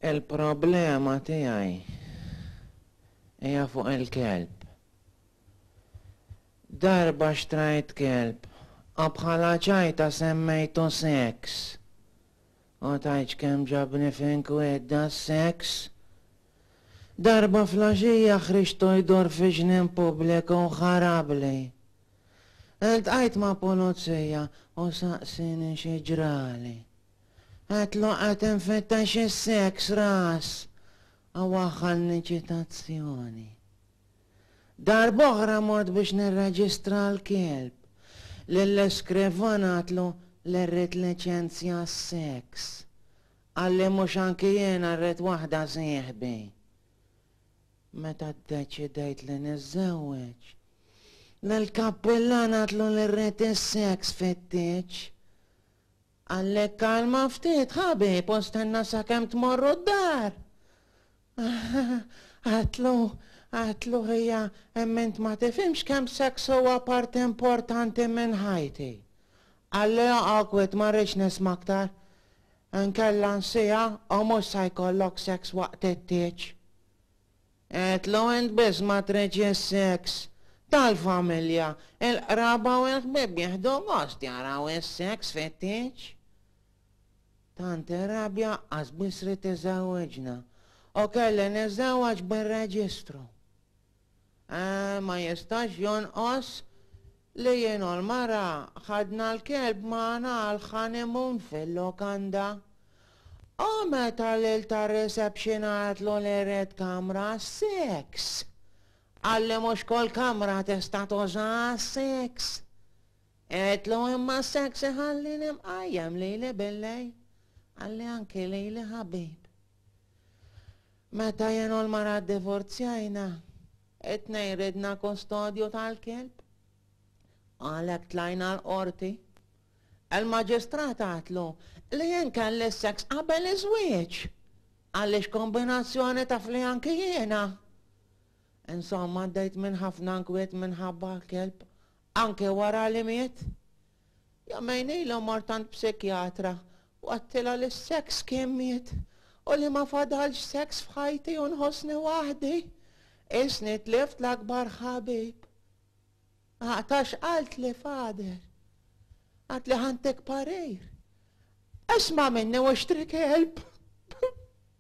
Il-problema tiegħi hija fuq il-kelb. Darba xtrajt kelb, a bħala ċajta semmejtu Sex. U tajċ kemm ġabni f'inkwidda s-sex. Darba flaxija ħriġtu jdur fi ġnien pubbliku u ħarabli. Iltqajt ma' pulizija u saqsieni xi ġrali. Għedtlu qed infittex is-sex ras u waħħalni ċitazzjoni. Darb'oħra mort biex nirreġistra l-kelb, lill-iskrivan għedtlu li rrid liċenzja għas-sex. Qalli mhux anki jiena rrid waħda sieħbi. Meta ddeċidejt li niżżewweġ, lill-kappillan għadtlu li rrid is-seks fit-tieġ. Qalli kkalma ftit, ħabib, u stenna sakemm tmorru d-dar! Għadtlu, għadtlu hija hemm int ma tifhimx kemm seks huwa parti importanti minn ħajti. Qalli oqgħod kwiet ma rridx nisma' aktar. Inkella nsiha u mhux se jkollok seks waqt it-tieġ. Għidlu int biss ma tridx is-seks. Tal-familja, il-qraba u l-ħbieb jieħdu gost jaraw is-seks fit-tieġ. Tant ir-rabja qasbiss ridt iżewwiġna u kelli niżżewweġ bir-reġistru. Eeh, ma jistax jonqos li jien u l-mara ħadna l-kelb magħna għall-honeymoon fil-lukanda. U meta l-il tar-reception qaltlu li jrid kamra għas-seks, qal li mhux kull kamra tista' tuża għas-seks. Għedtlu imma s-seks iħallini mqajjem lili bil-lejl, qalli anki lili ħabib. Meta jien u l-mara ddivorzjajna, it-tnejn ridna kustodju tal-kelb. Għalhekk tlajna l-qorti. Il-maġistrat għatlu li jien kelli s-seks qabel iż-żwieġ għaliex kombinazzjoni taf li anki jiena. Insomma għaddejt minn ħafna nkwiet minħabba l-kelb anke wara li miet. Jam għajnejlha u mort għand psikjatra u għedtilha li s-sex kien miet u li ma fadalx sex f'ħajti u nħossni waħdi. Qisni tlift l-akbar ħabib. Għatax qalt li fader. Għat li ħantek parir. Isma' minni u xtri kelb.